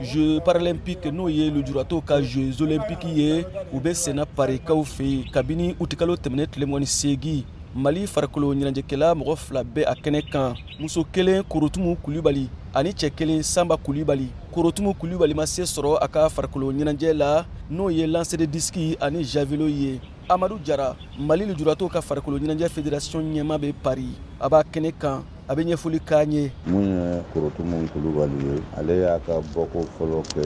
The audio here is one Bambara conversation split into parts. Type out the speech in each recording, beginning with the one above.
jeux paralympique n'o ye lujuratɔw ka jeux olympique ye u bɛ senna parikaw fɛ yen kabini utikalo tɛmɛnen tile mugan ni seegin mali farikolo ɲɛnajɛkɛla mɔgɔ fila bɛ a kɛnɛ kan muso kelen korotumu kulibali ani cɛ kelen sanba kulibali korotumu kulibali ma se sɔrɔ a ka farikolo ɲɛnajɛ la n'o ye lancer de disque ani javelot ye amadu jara mali lujuratɔw ka farikolo ɲɛnajɛ federasiyɔn ɲɛmaa bɛ paris a b'a kɛnɛ kan a bɛ ɲɛfɔli k'an ye min ye korotumu kulubali ye ale y'a ka bɔko fɔlɔ kɛ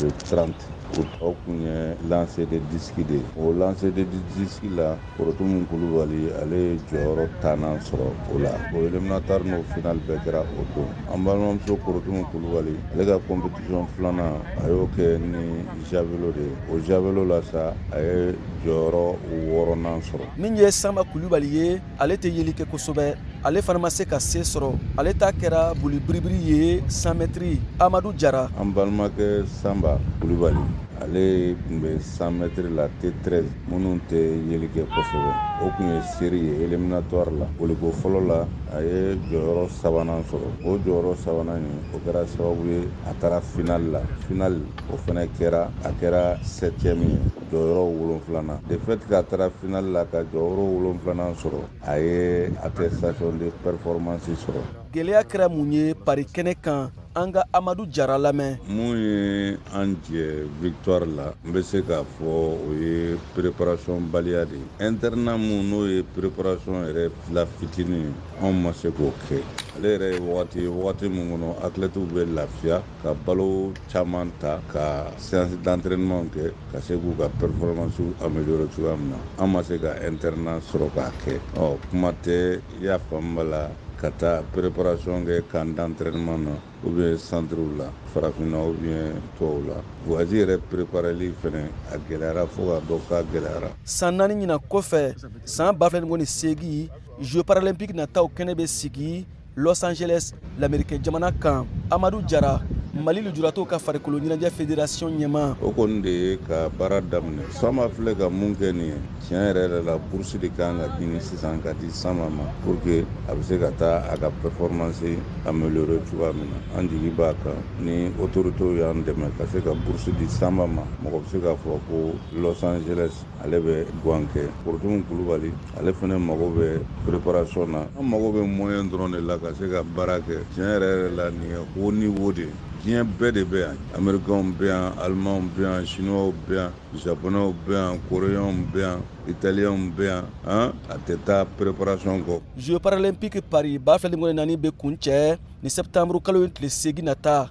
le 30 août o kun ye lancer de disque de ye o lancer de disque la korotumu kulubali ale ye jɔyɔrɔ tannan sɔrɔ o la o éliminatoire n'o final bɛɛ kɛra o don an balimamuso korotumu kulubali ale ka compétition filanan a y'o kɛ ni javelot de ye o javelot la sa a ye jɔyɔrɔ wɔɔrɔnan sɔrɔ min ye sanba kulubali ye ale tɛ yeli kɛ kosɛbɛ ale fana ma se ka se sɔrɔ ale ta kɛra boli biribiri ye 100 mètres amadu jara an balimakɛ sanba kulubali ale tun bɛ 100 mètres la t 13 minnu tɛ yeli kɛ kosɛbɛ o kun ye série ye éliminatoire la boliko fɔlɔ la a ye jɔyɔrɔ sabanan sɔrɔ o jɔyɔrɔ sabanan in o kɛra sababu ye a taara finali la finali o fana kɛra a kɛra septième ye jɔyɔrɔ wolonfilanan de fait que a taara finali la ka jɔyɔrɔ wolonfilanan sɔrɔ a ye attestation de performance sɔrɔ gɛlɛya kɛra mun ye paris kɛnɛ kan an ka amadu jara lamɛn min ye an jɛ victoire la n bɛ se k'a fɔ o ye préparation baliya de ye internat min n'o ye préparation yɛrɛ la fitinin anw ma se k'o kɛ ale yɛrɛ ye wagati ye wagati min kɔnɔ athlètew bɛ lafiya ka balo caman ta ka séance d'entraînement kɛ ka se k'u ka performance améliorer cogoya min na an ma se ka internat sɔrɔ k'a kɛ ɔ kuma tɛ a fanba la ka taa préparation kɛ camp d'entraînement na ou bien centrew la farafinna ou bien tɔw la voyage yɛrɛ prépareli fɛnɛ a gɛlɛyara fo k'a dɔn k'a gɛlɛyara san naani ɲinan kɔfɛ san ba fila ni mugan ni seegin jeux paralympique nataw kɛnɛ bɛ sigi los angeles lamerikɛ jamana kan amadu jara mali lujuratɔw ka farikolo ɲɛnajɛ federasiyɔn ɲɛmaa o kɔni de ye ka baara daminɛ sanba filɛ ka mun kɛ nin ye tiɲɛ yɛrɛ yɛrɛ la bourse de ka kan ka ɲini sisan ka di sanba ma pour que a bɛ se ka taa a ka performance améliorer cogoya min na an jigi b'a kan ni autoritéw y'an dɛmɛ ka se ka bourse di sanba ma mɔgɔ bɛ se k'a fɔ ko los angeles ale bɛ gan kɛ korotumu kulubali ale fana mago bɛ preparation na an mago bɛ moyen dɔrɔn de la ka se ka baara kɛ tiɲɛ yɛrɛ yɛrɛ la nin ye haut niveau de ye diɲɛ bɛɛ de bɛ yan amerikanw bɛ yan alimanw bɛ yan sinuwaw bɛ yan japonɛw bɛ yan koreyanw bɛ yan italiyɛnw bɛ yan an a tɛ taa preparation kɔ jeux paralympique paris ba fila mugan ni naani bɛ kuncɛ nin septembre kalo in tile seegin nata